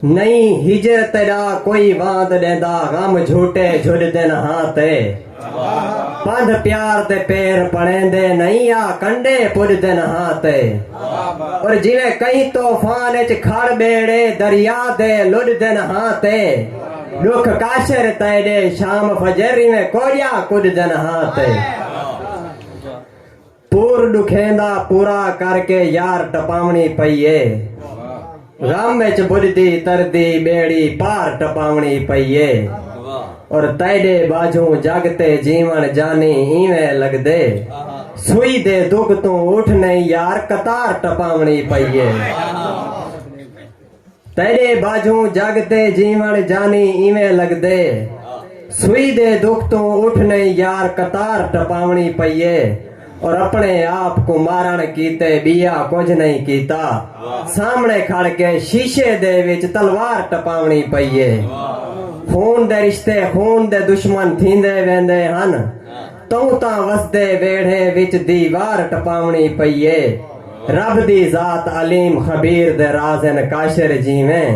نئیں ہجر تیݙا کوئی واند ݙیندا غم جھوٹے جھڈ دن ہاں تے پندھ پیار تے پیر پڑیندے نئیں آ کنڈے پڈ دن ہاں تے اور جیویں کہیں طوفان اچ کھڑ ٻیڑے دریا دے لڈ دن ہاں تے ڈکھ کاشر تیݙے شام فجر ایویں کوجا کڈ دن ہاں تے پور ڈکھیں دا پورا کر کے یار ٹپاونڑی پئی اے غم اچ بجھدی تردی بیڑی پار ٹپاونڑی پئی اے اور تیڈے باجھوں جگ تے جیون جانی اینویں لگدے سوئی دے دکھ توں اٹھ نئی یار قطار ٹپاونڑی پئی اے۔ تیݙے ٻاجھوں جڳ تے جیوݨ جانی ایویں لڳدے سوئی دے دکھ توں اٹھ نئیں یار قطار ٹپاوݨی پئی اے اور اپݨے آپ کوں مارݨ کیتے ٻیا کجھ نئیں کیتا سامݨے کھڑ کے شیشے دے وچ تلوار ٹپاوݨی پئی اے خون دے رشتے خون دے دشمن تھیندے ویندے ہن توں تاں وسدے ویڑھے وچ دیوار ٹپاونڑی پئی اے۔ رب دی ذات علیم خبیر دے راز ہن کاشر جیویں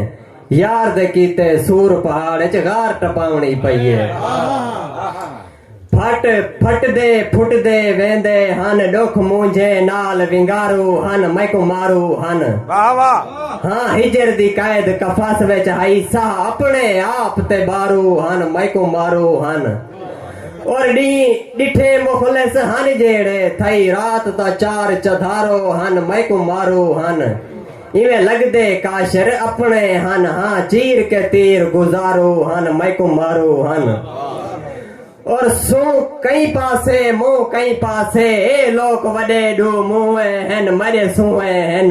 یار دے کیتے سور پہاڑ اچ غار ٹپاونڑی پئی اے۔ پھٹ پھٹدے پھٹدے ویندے ہن ڈکھ مونجھے نال ونگارو ہن میکوں مارو ہن۔ ہاں ہجر دی قید قفس وچ ہئی ساہ اپنڑے آپ تے بارو ہن میکوں مارو ہن۔ اور ڈی ڈٹھے مفلس ہن جیڑے تھئی رات تا چار چدھارو ہن میکو مارو ہن ایویں لگدے کاشر اپنے ہن ہاں چیر کے تیر گزارو ہن میکو مارو ہن اور سو کئی پاسے مو کئی پاسے اے لوک وڈے ڈو موئے ہن مڈے سوئے ہن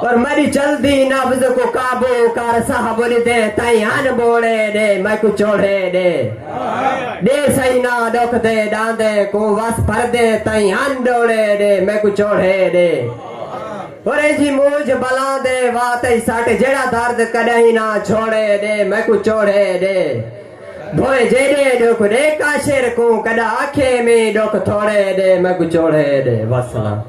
پر میڈی جلدی نبض کوں قابو کر ساہ بولی دے تائیں ہن بوڑے ڈے میکوں چوڑھے ڈے ڈے سائیں نا ڈکھ دے ڈاندے کوں وس بھر دے تائیں ہن ڈوڑے ڈے میکوں چوڑھے ڈے اور اینجھی مونجھ بلاں دے واہ تئی سٹ جیڑا درد کڈاہیں نا چھوڑے ڈے میکوں چوڑھے ڈے بھویں جیڈے ڈکھ ڈے کاشر کوں کڈا آکھے میں ڈکھ تھوڑے ڈے میکوں چوڑھے ڈے وسلام۔